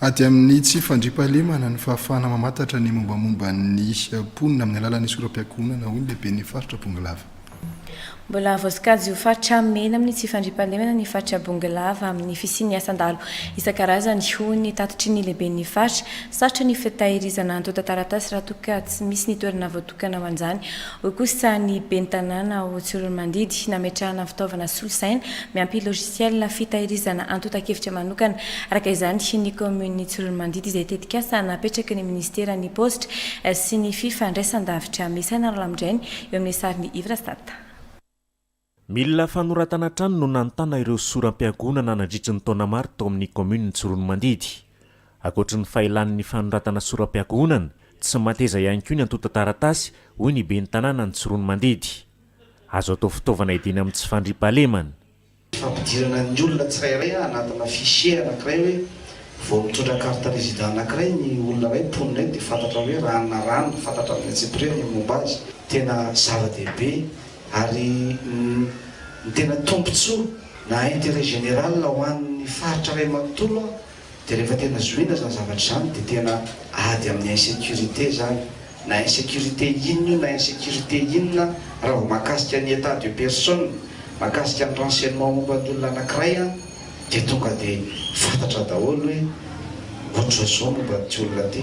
Ady amin'ny tsy fandriampahalemana ny fahafahana mamantatra ny mombamomba ny mponina amin'ny alalan'ny soram-piankohonana, hoy ny lehiben'ny faritra Bongolava. Mbola voasokajy ho faritra mena amin'ny tsy fandriampahalemana ny faritra Bongolava amin'ny fisian'ny asan-dahalo isan-karazany, hoy ny tatitry ny lehiben'ny faritra. Sarotra ny fitahirizana antontan-taratasy raha toa ka tsy misy ny toerana voatokana. Tokana ho an'izany, hoy kosa ny ben'ny tanàna ao Tsiroanomandidy, nametrahana fitaovana solosaina miampy logiciel fitahirizana antontan-kevitra manokana, araka izany, ny kaominin'i Tsiroanomandidy izay tetikasa napetraky ny minisiteran'ny paositra sy ny fifandraisan-davitra Mesa Nanolamindrainy eo amin'ny sarin'ny Ivrasat. Milina fanoratana hatrany no nanontana ireo soram-piangonana nandritry ny taona maro tao amin'ny kaominina Tsiroanomandidy. Ankoatry ny fahelan' ny fanoratana soram-piangonana, tsy mateza ihany koa ny antontan-taratasy, hoy ny ben'ny tanànan'i Tsiroanomandidy. Azo atao fitaovana hiadiana amin'ny tsy fandriampahalemana. Fampidirana ny olona tsirairay anatina fichier anankiray hoe vao mitondra carte resident anankiray ny olona iray mponina eto dia fantatra hoe ranona rano, fantatra amin'ny antsipiriany ny momba azy. Tena zava-dehibe. Ary ny tena tombotsoa na intérêt général ho an'ny faritra iray manontolo dia rehefa tena zohiana izany zavatra izany dia tena ady amin'ny insécurité izany, na insécurité inona io na insécurité inona raha vao mahakasika ny état de personne, mahakasika ny renseignement momba ny olona anankiray dia tonga dia fantatra daholo hoe ohatr'izao izao momba ity olona ity.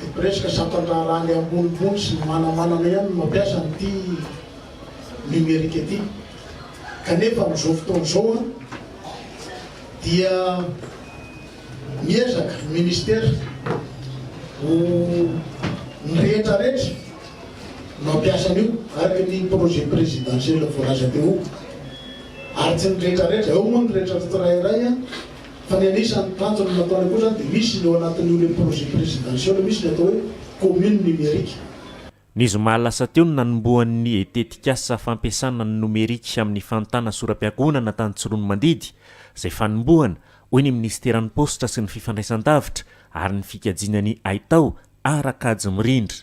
Ny mpiresaka sampan-draharaha le ambonimbony sy ny manamanana ihany no mampiasa an'ity numerique ity. Kanefa amin'izao fotoana izao dia miezaka ny ministera ho ny rehetrarehetra no hampiasa an'io araka ny projet présidentiel voalaza teo. Ary tsy ny rehetrarehetra, ao moa ny rehetra tsirairay. Fa ny anisan'ny tanjona nataony koa izany dia misy ny ao anatin'io le projet présidentiel misy ny atao hoe commune numérique. Ny zoma lasa teo no nanombohan'ny tetikasa fampiasana ny nomerika amin'ny fanontana soram-piankohonana tany Tsiroanomandidy, izay fanombohana, hoy ny minisiteran'ny Paositra sy ny fifandraisan-davitra ary ny fikajiana ny haitao ara-kajy mirindra.